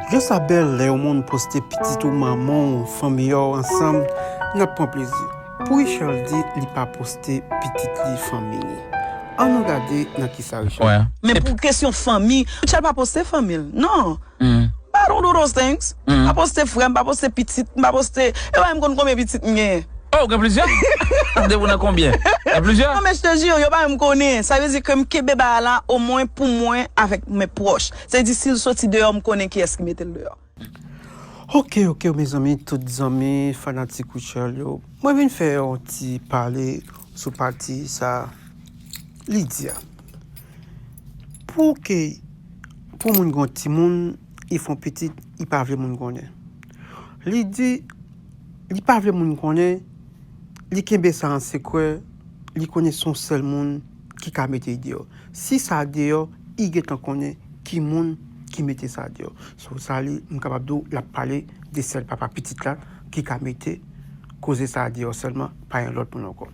Jan sa bèl lè yon moun poste pitit ou manman w fanmi yo ansanm nap pran plezi pou Richard di li pa poste pitit li fanmi li an nou gade nan kisa Richard Men pou kesyon fanmi Richard pa poste fanmi l nan I don't do those things m pa poste frè m pa poste pitit m pa poste e w pa menm konn konbyen pitit m genyen. Oh gen plizyè? Tande ou nan konbyen? Gen plizyè? Non men jtejur yo pa menm konnen, sa vle di ke m kenbe bagay la omwen pou mwen avèk men pwòch, sa vle di si l soti deyò m konnen kiyès ki mete l deyò. Ok ok mezanmi tout zanmi fanatik Rutshelle yo mwen vin fè yon ti pale sou pati sa li di a pou ke pou moun gon timoun li fon pitit li pa vle moun konnen li di Li pa vle moun konnen, li kenbe sa an sekrè, li konnen son sèl moun ki ka mete li deyò. Si sa deyò, li gentan konnen ki moun ki mete sa deyò. So sa li, m kapab di w lap pale de sèl papa pitit la ki ka mete koze sa deyò sèlman, pa yon lòt moun ankò.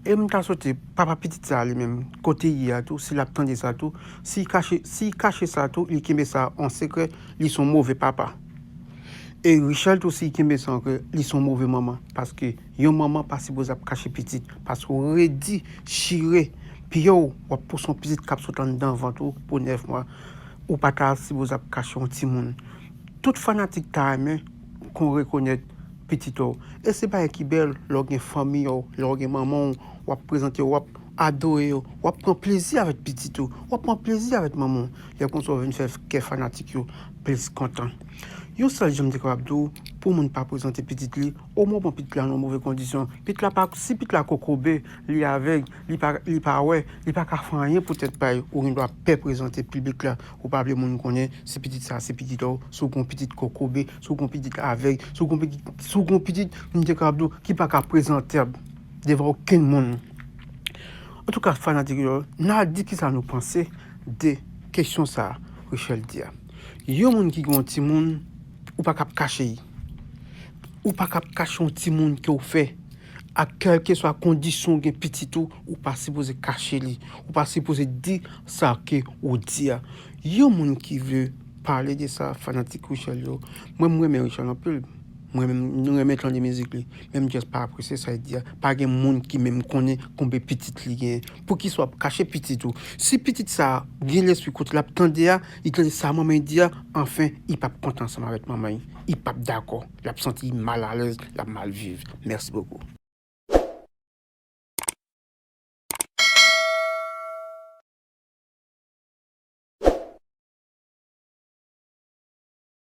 E m ta swete papa pitit sa li menm kote li ye a tou si lap tande sa tou, si li kache sa tou, li kenbe sa an sekrè, li son move papa. E Richard osi kenbe sa ke li son move manman paske yon manman pa sipoze ap kache pitit paske ou redi chire pye w wap pouse yon pitit kap sot anndan vant ou pou 9 mwa ou pa ta sipoze ap kache yon timoun tout fanatik ta renmen ke w rekonèt pitit ou e se bagay ki bèl lè w gen fanmi w lè w gen manman w wap prezante yo wap adore yo wap pran plezi avèk pitit ou wap pran plezi avèk manman w lè konsa w vin fè kè fanatik yo plis kontan. Yon sèl jan m te kapab di w pou moun pa prezante pitit li o moman pitit la nan move kondisyon. Pitit la pa, si pitit la kokobe, li avèg, li pa, li pa wè, li pa ka fè anyen pou tèt pa l, ou gen dwa pè prezante piblik la, ou pa vle moun konnen si pitit sa a se pitit ou, si w gen yon pitit kokobe, si w gen yon pitit avèg, si w gen yon pitit, si w gen yon pitit, m te kapab di w, ki pa ka prezantèb devan okenn moun. Antouka fanatik yo, n a di kisa nou panse de kesyon sa a. Rechèl di a. Yon moun ki gen yon timoun, ou pa kab kache li. Ou pa kab kache yon timoun ke ou fè. A kèlkeswa kondisyon ou gen pitit ou, ou pa sipoze kache li. Ou pa sipoze di sa ke ou di a. Yon moun ki vle pale de sa, fanatik Rechèl yo, mwen m renmen Rechèl anpil. Mwen menm, m renmen tande mizik li. Men m just pa apresye sa li di a. Pa gen moun ki menm konnen konbe pitit li gen. Poukisa w ap kache pitit ou? Si pitit sa a gen lespri kote l ap tande a, li tande sa manman l di a, anfen, li pap kontan ansanm avèk manman l. Li pap dakò. L ap santi li mal alèz, l ap mal viv. Mèsi bokou.